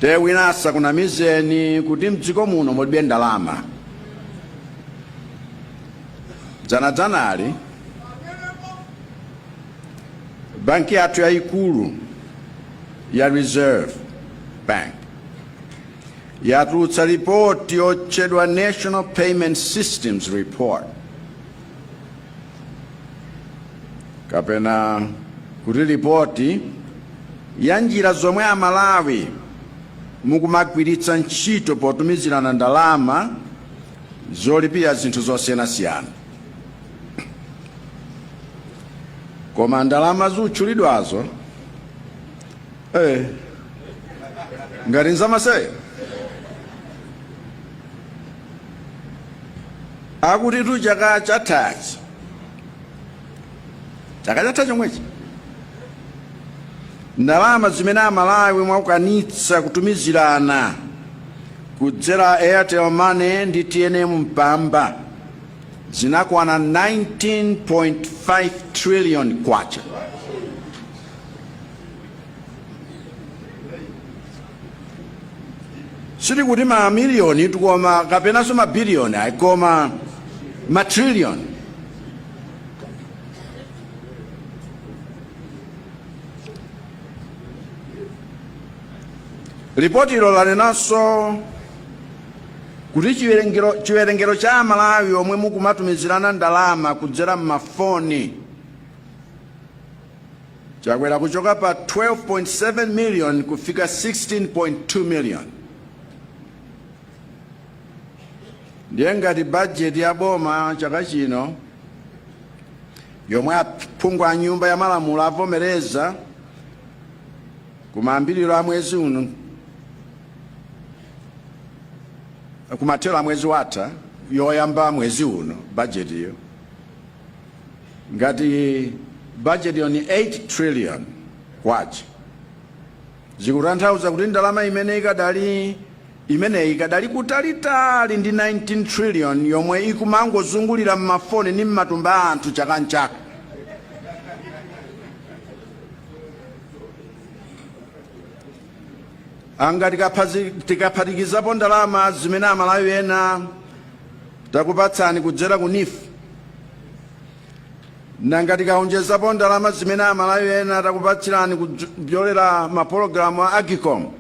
te wina asakunamizeni kuti mdziko muno mulibe ndalama dzanadzanali banki yathu yayikulu ya reserve bank yatulutsa ripoti yotchedwa national payment systems report kapena kuti lipoti ya njira zomwe amalawi mukumagwiritsa ntchito potumizirana ndalama zolipira zinthu zosiyanasiyana koma ndalama zotchulidwazo eh, ngati nzamasewera akutitu chaka chathachi chaka chatha chomwechi ndalama zimene amalawi mwakwanitsa kutumizirana kudzera airtel money ndi tnm mpamba zinakwana 19.5 trillion kwacha sitikuti ma miliyoni tikunena kapenanso ma biliyoni ayi koma ma triliyoni ripoti ilo lanenanso kuti chiwerengero chiwerengero cha amalawi omwe mukumatumizirana ndalama kudzera m'mafoni Chakwera kuchoka pa 12.7 million kufika 16.2 million ndiye ngati bajeti ya boma chaka chino yomwe aphungu a nyumba ya malamulo avomereza kumayambiriro a mwezi uno kumathero a mwezi watha yoyamba mwezi uno bajetiyo Ngati budget-yo ndi 8 trillion kwacha zikutanthauza kuti ndalama imene ikadali imeneyi ikadali kutalitali ndi 19 trillion yomwe ikumangozungulira m'mafoni ndi m'matumba a anthu chaka nchaka anga tikaphatikizapo ndalama zimene amalawi ena takupatsani kudzera ku NEEF nanga tikaonjezapo ndalama zimene amalawi ena takupatsirani kudzera mapologalamu a AGCOM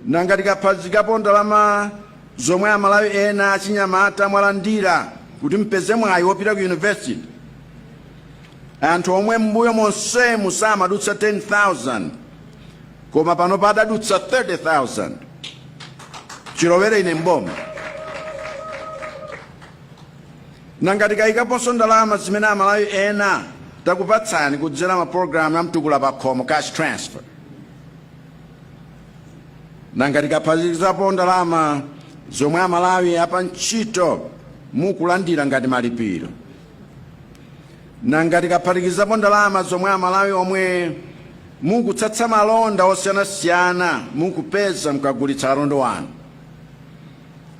nanga tikaphatikizapo ndalama zomwe amalawi ena achinyamata mwalandira kuti mpeze mwayi wopita ku university anthu omwe m'mbuyo monsemu samadutsa 10,000 koma pano padadutsa 30,000 chilowere ine m'boma nanga tikayikaponso ndalama zimene amalawi ena takupatsani kudzera mapulogalamu a mtukula pakhomo cash transfer nanga tikaphatikizapo ndalama zomwe amalawi apa ntchito mukulandira ngati malipiro Nanga tikaphatikizapo ndalama zomwe Amalawi omwe mukutsatsa malonda osiyanasiyana mukupeza mukagulitsa malonda anu,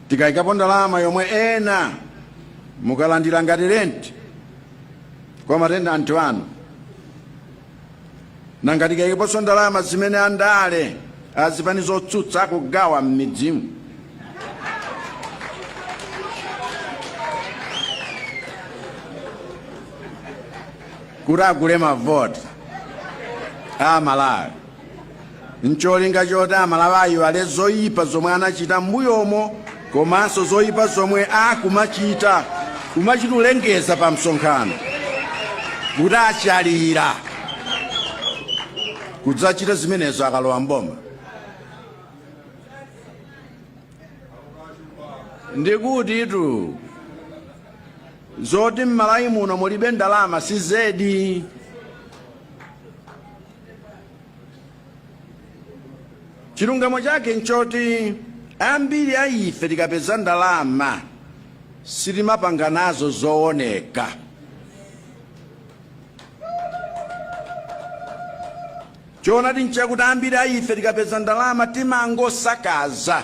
tikayikapo ndalama yomwe ena mukulandira ngati renti kwa matenanti anu, Nanga tikaikaponso ndalama zimene andale azipani zotsutsa akugawa m'midzimu? kuti agule mavoti a Amalawi. n'cholinga choti Amalawi aiwale zoipa zomwe anachita m'mbuyomo komanso zoipa zomwe akumachita kumachita kulengeza pa msonkhano kuti atsalira kudzachita zimenezo akalowa m'boma ndikuti izi zoti m'Malawi muno mulibe ndalama si zedi chilungamo chake nchoti ambiri a ife tikapeza ndalama sitimapanga nazo zooneka choonadi nchakuti ambiri a ife tikapeza ndalama timangosakaza